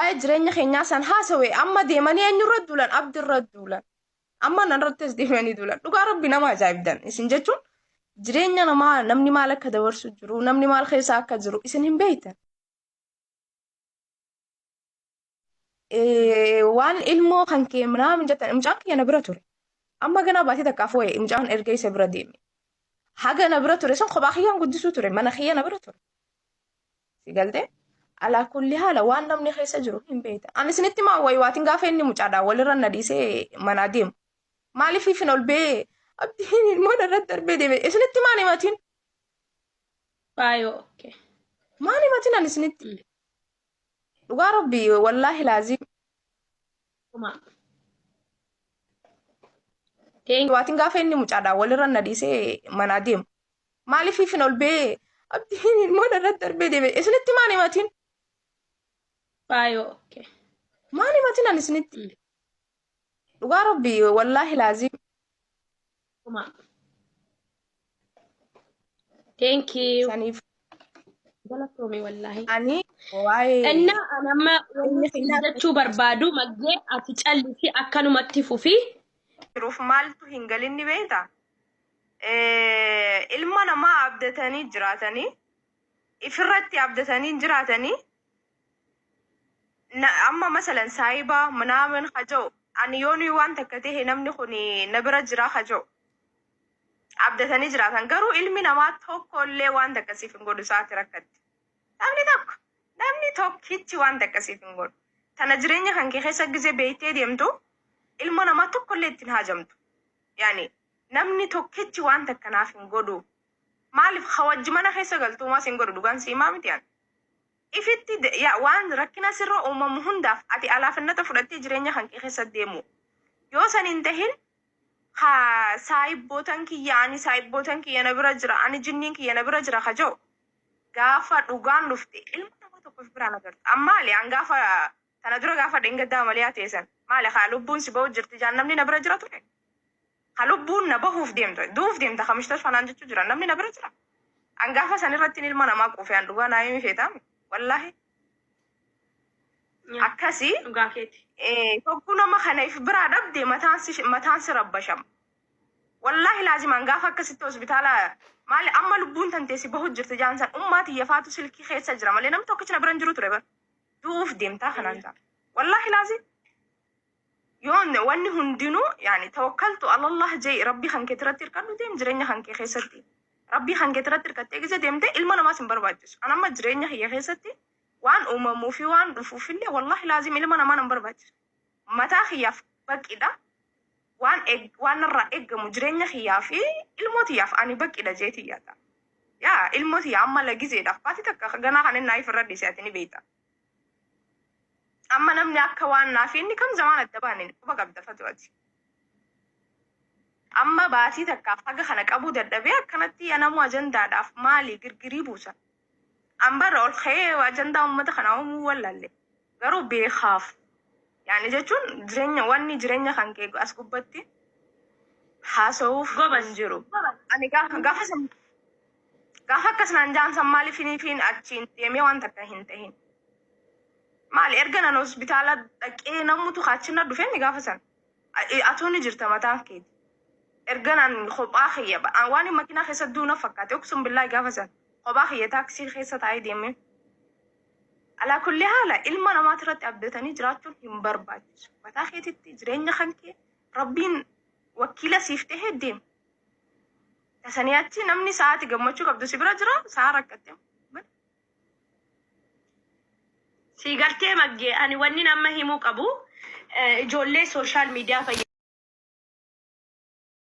waa'ee jireenya keenyaa san haasawe amma deemanii eenyurra duulan abdirra duulan amma nanrattis deemanii duulan dhugaa rabbi nama ajaa'ibdan isin jechuun jireenya namaa namni maal akka dabarsu jiru namni maal keessa akka jiru isin hin beektan waan ilmoo kan kee minaamin jettan mucaan kiyya na bira ture amma ganaa baatee takka afooye mucaan erga isa bira deeme haga na bira ture san kophaa kiyyaan guddisuu ture mana kiyya na bira ture Si galtee? Alaa kulli haala waan namni keessa jiru hin beekta. Ani isinitti maa wayi waatiin gaafa inni mucaadhaan walirra na dhiisee manaa deemu. Maaliif ifin ol bee abdiin ilmoo narratti darbee deeme isinitti maan himatiin? Faayoo. Okay. Maan himatiin ani isinitti? Mm. Dhugaa rabbi wallaahi laazii Kuma. Thank waatiin gaafa inni mucaadhaan walirra na dhiisee manaa deemu. Maaliif ifin ol ba'ee abdiin ilmoo irratti darbee deebi'e. Isinitti maal himatiin? Faayoo. Okay. Maal himatiin ani isinitti? Mm. Dhugaa rabbi wallaahi laazim. Kuma. Thank you. Saniif Galatoomi wallaahi. ani waa'ee Innaa ani amma wanni isin jechuu barbaadu maggee ati callisi akkanumatti fufi. jiruuf maaltu hin galinni beekta? ilma namaa abdatanii jiraatanii ifirratti abdatanii jiraatanii na- amma masalan saayibaa manaaman haja'u ani yoo nuyi waan takka ta'e namni kun na bira jira haja'u abdatanii jiraatan garuu ilmi namaa tokko illee waan takka siif hin godhu isaati rakkatti namni tokko namni tokkichi waan takka siif hin godhu tana jireenya kan kee keessa gizee beektee deemtu ilma namaa tokko illee ittiin haajamtu yaani Namni tokkichi waan takka naaf hin godhu. Maalif ha wajji mana keessa galtu homaa sin godhu dhugaan si himaa miti an. Ifitti de ya waan rakkina sirra uumamu hundaaf ati alaafinnata fudhattee jireenya kan kee keessa deemuu. Yoo san hin tahin ha saahibbootan kiyya ani saahibbootan kiyya na bira jira ani jinniin kiyya na bira jira ka ja'u gaafa dhugaan dhufte ilma nama tokko if biraan agarta. An maali an gaafa Tana dura gaafa dheengaddaa amaliyaa teesan maali kaa lubbuun si bahu jirti jaan namni na bira jira ture? Ka lubbuun na bahuuf deemtu du'uuf deemta ka mustashfa naan jechuu jiran namni na bira jira? An gaafa san irrattiin ilma namaa quufe an dhugaa naa himi feetaami wallaahi Nyaa. akkasi Dhugaa keeti. eh, tokko nama kana if biraa dhabde mataan si mataan si rabbashama. Wallaahi laazimaan gaafa akkasitti hospitaala maali amma lubbuun tantee si bahu jirti jaan san ummaa tiyyafaatu silkii keessa jira malee namni tokkichi na bira hin jiru ture bar. du'uuf deemtaa kanaan jaa wallaahi laazim yoon wanni hundinuu yaani tawakkaltu alallah jee rabbii kan kee irratti hirkadhu deem jireenya kan kee keessatti rabbii kan kee irratti hirkattee gisa deemte ilma namaas hin barbaachisu an amma jireenya kiyya keessatti waan uumamuu fi waan dhufuuf illee wallaahi laazim ilma namaa nan barbaachisu Mataa kiyyaaf baqqidha. Waan eg, waan narraa eggamu jireenya kiyyaa fi ilmoo tiyyaaf ani baqqidha jeeti yaada. Yaa ilmoo tiyya amma la gizeedhaaf baati takka ka ganaa kan innaa ifirra dhiise ati ni beeyta. Amma namni akka waan naa fi inni kam zamaan adda baane quba qabda fatu ati. Amma baatii takkaaf haga kana qabuu dadhabee akkanatti ya namuu ajandaadhaaf maali girgirii buusa. An bara ol ka'ee ajandaa uummata kanaa uumuu wallalle. Garuu beekaaf. Yaani jechuun jireenya wanni jireenya kan kee as gubbatti haasa'uuf Gobas. hin jiru. Ani gaafa gaafa san gaafa akkas naan jaan san maaliif hiniifiin achiin deemee waan takka hin tahin. Maali erga nan hospitaala dhaqee namutu kaachina dhufeemi gaafa san. Ayi atuu ni jirta mataan keeti ergan an kophaa kiyya ba- an waan makinaa keessa duu na fakkaate uksun billaahi gaafa san kophaa kiyya taaksii keessa taa'ee deemee alaa kulli haala ilma namaati irratti abdatanii jiraachuun hin barbaachisu mataa keetitti jireenya kan kee rabbiin wakiila siif ta'ee deem tasanii achi namni sa'aati gammachuu qabdu si bira jira sa'a rakkatte Sii galtee maggee ani wannin amma himuu qabu eh, ijoollee sooshaal miidiyaa fayyadamu.